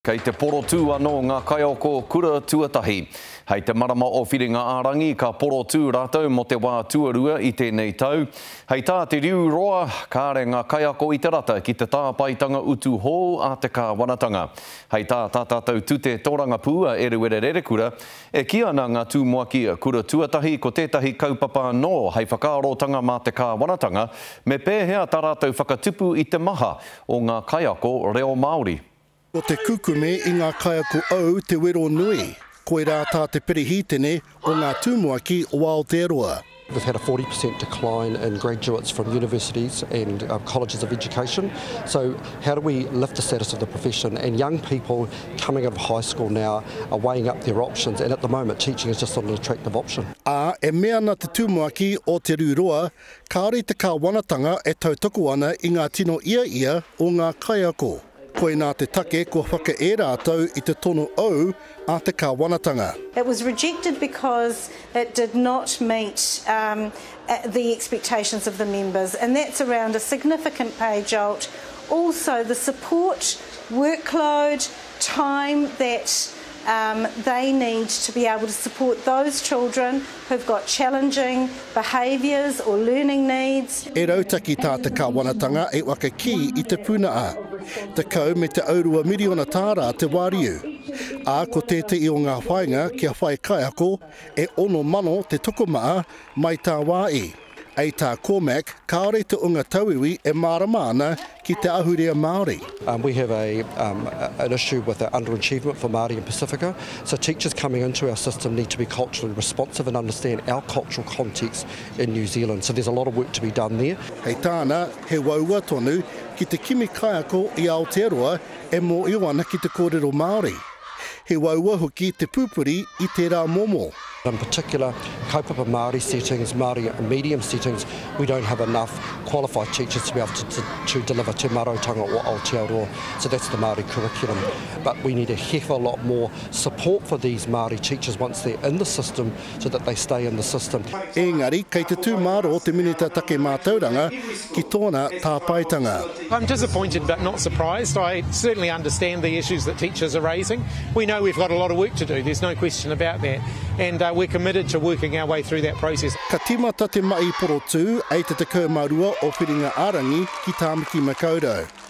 Kei te porotū anō ngā kaiako kura tuatahi. Hei te marama o Whiringa-ā-rangi ka porotū rātou mō te wā tuarua i tēnei tau. Hei tā te riu roa, kāre ngā kaiako i te rata ki te tāpaetanga utu hou a te kāwanatanga. Hei tā tā tātou tute tōrangapū a Eruera Rerekura, e kī ana ngā tūmoaki kura tuatahi ko tētahi kaupapa anō hei whakaarotanga mā te kāwanatanga me pēhea tā rātou whakatupu i te maha o ngā kaiako reo Māori. Ko te kukume i ngā kaiako ou te wero nui, koirā tā te Perehitene o ngā Tumuaki o Aotearoa. We've had a 40% decline in graduates from universities and colleges of education, so how do we lift the status of the profession? And young people coming out of high school now are weighing up their options, and at the moment teaching is just not an attractive option. Ā, e mea ana te Tumuaki o Te Rū Roa, kāore te Kāwanatanga e tautoko ana i ngā tino ia ia o ngā kaiako. Koinā te take kua whakae rātou i te tono ou a te Kāwanatanga. It was rejected because it did not meet the expectations of the members and that's around a significant pay jolt, also the support workload, time that Um, they need to be able to support those children who've got challenging behaviours or learning needs. E rautaki tā te Kāwanatanga e waka kī i te puna a. Tekau me te aurua miriona tāra te wāriu. Ā, ko tētehi o ngā whāinga kia whai kaiako e ono mano te tokomaha mai tā wā i. Hei tā Cormack, kāore te ōnga tauiwi e mārama ana ki te ahurea Māori. Um we have a um an issue with the under achievement for Māori in Pasifika, so teachers coming into our system need to be culturally responsive and understand our cultural context in New Zealand, so there's a lot of work to be done there. Hei tāna, he uaua tonu ki te kimi kaiako i Aotearoa e mōhio ana ki te kōrero Māori. He waua hoki te pūpuri i tērā momo. In particular, kaupapa Māori settings, Māori medium settings, we don't have enough qualified teachers to be able to to deliver Te Marautanga or Aotearoa, so that's the Māori curriculum. But we need a heck of a lot more support for these Māori teachers once they're in the system, so that they stay in the system. Engari, kei te tū mārō te Minita Take Mātauranga ki tōna tāpaetanga. I'm disappointed but not surprised. I certainly understand the issues that teachers are raising. We know we've got a lot of work to do, there's no question about that, and uh, we're committed to working our way through that process. Ka tīmata te mahi porotū, ei te 12 o Whiringa-ā-rangi ki Tāmaki Makaurau.